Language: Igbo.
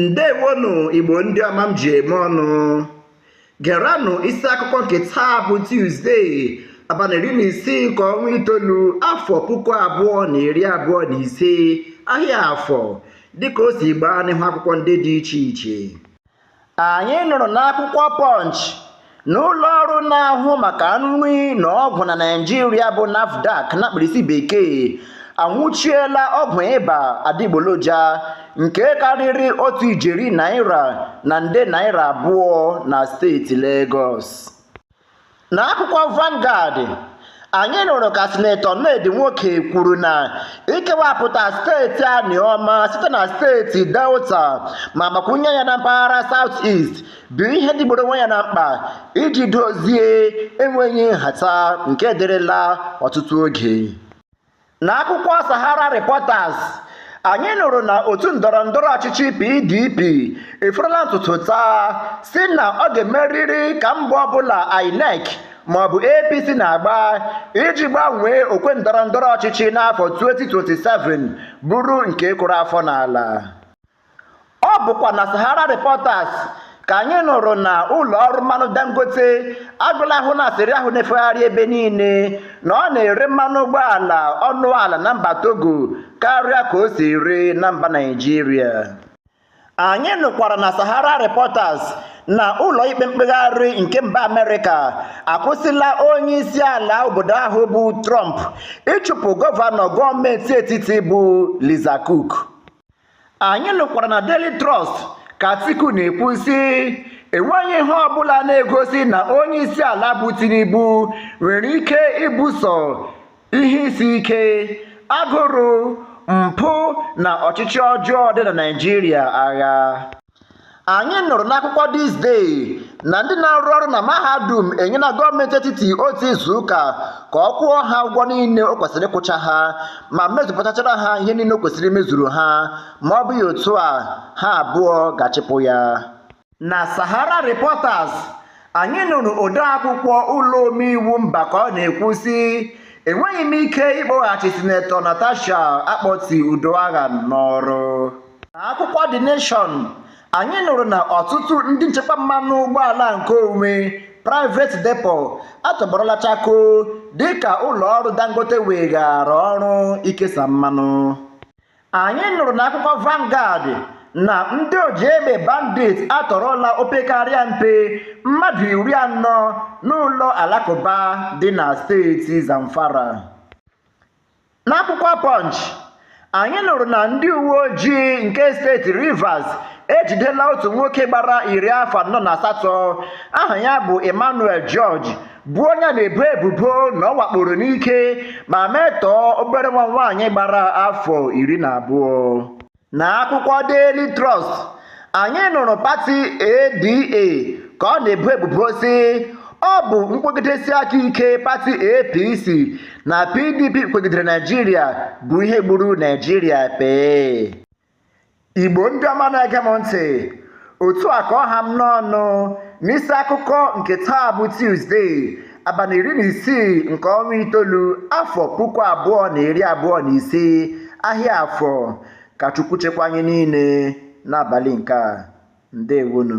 ndewonụ igbo ndị ọma m ji eme ọnụ geranụ isi akụkọ nke taa bụ tuzdee abalị iri na isii nke ọnwa itoolu afọ puku abụọ na iri abụọ na ise ahịa afọ dịka o si gbaa n'ihu akwụkwọ ndị dị iche iche Anyị nụrụ n'akwụkwọ Punch na ụlọ ọrụ na-ahụ maka nri na ọgwụ na Naịjirịa bụ NAFDAC na mkpirisi bekee anwụchiela ọgwụ ịba adịgboloja nke karịrị otu ijeri naira na nde naira abụọ na steeti Legọs. N'akwụkwọ Vanguard, anyị nụrụ ka Sinetọ Ned Nwoko kwuru na ikewapụta steeti Anioma site na steeti Delta ma gbakwunye ya na mpaghara South East bụ ihe dịgburu onwe ya na mkpa iji dozie enweghị nhata nke dịrịla ọtụtụ oge. N'akwụkwọ Sahara Reporters, anyị nụrụ na otu ndọrọ ndọrọ ọchịchị PDP eforola ntutu taa sị na ọ ga-emerịrị ka mbọ ọbụla INEC maọbụ APC na-agba iji gbanwee okwe ndọrọ ndọrọ ọchịchị n'afọ 2027 bụrụ nke kụrụ afọ n'ala. Ọ bụkwa na Sahara Reporters ka anyị nụrụ na ụlọ ọrụ mmanụ Dangote agọla ahụ n'asịrị ahụ na-efegharị ebe niile na ọ na-ere mmanụ ụgbọala ọnụ ala na mba Togo karịa ka o si ere na mba Naịjirịa. Anyị nụkwara na Sahara Reporters na ụlọ ikpe mkpegharị nke mba Amerịka akwụsịla onye isi ala obodo ahụ bụ Trump ịchụpụ gọvanọ gọọmenti etiti bụ Lisa Cook. anyị nụkwara na Daily Trust ka Atiku na-ekwu sị enweghị ihe ọbụla na-egosi na onye isi ala bụ Tinubu nwere ike ibuso ihe isi ike agụrụ mpụ na ọchịchị ọjọọ dị na Naịjirịa agha anyị nụrụ n'akwụkwọ this day na ndị na-arụ ọrụ na mahadum enyela gọọmenti etiti otu izu ụka ka ọ kwụọ ha ụgwọ niile o kwesịrị ịkwụcha ha ma mezupụtachara ha ihe niile o kwesịrị imezuru ha ma ọ bụghị otu a ha abụọ ga-achịpụ ya na sahara reporters anyị nụrụ odeakwụkwọ ụlọ omeiwu mba ka ọ na-ekwu sị enweghị m ike ịkpọghachi sinetọ natasha akpoti uduaghan n'ọrụ N'akwụkwọ The Nation, anyị nụrụ na ọtụtụ ndị nchekwa mmanụ ụgbọala nke onwe private depot atọgbọrọla chakoo dịka ụlọọrụ Dangote weghaara ọrụ ikesa mmanụ. Anyị nụrụ n'akwụkwọ Vanguard na ndị oji egbe bandit atọrọla opekarịa mpe mmadụ iri anọ n'ụlọ alakụba dị na steeti Zamfara. N'akwụkwọ Punch, anyị nụrụ na ndị uwe ojii nke steeti Rivers ejidela otu nwoke gbara iri afọ anọ na asatọ aha ya bụ Emmanuel George bụ onye na-ebo ebubo na ọ wakporo n'ike ma metọọ obere nwa nwaanyị gbara afọ iri na abụọ. Na akwụkwọ Daily Trust, anyị nụrụ pati ADA ka ọ na-ebo ebubo sị ọ bụ nkwegidesi aka ike pati APC na PDP kwegidere Naijiria bụ ihe gburu Naijiria pee. Igbo ndị ọma na-ege m ntị otu a ka ọ ha m n'ọnụ n'isi akụkọ nke taa bụ tuzdee abalị iri na isii nke ọnwa itoolu afọ puku abụọ na iri abụọ na ise ahịa afọ ka chukwu chekwa anyị niile n'abalị nke a ndewonu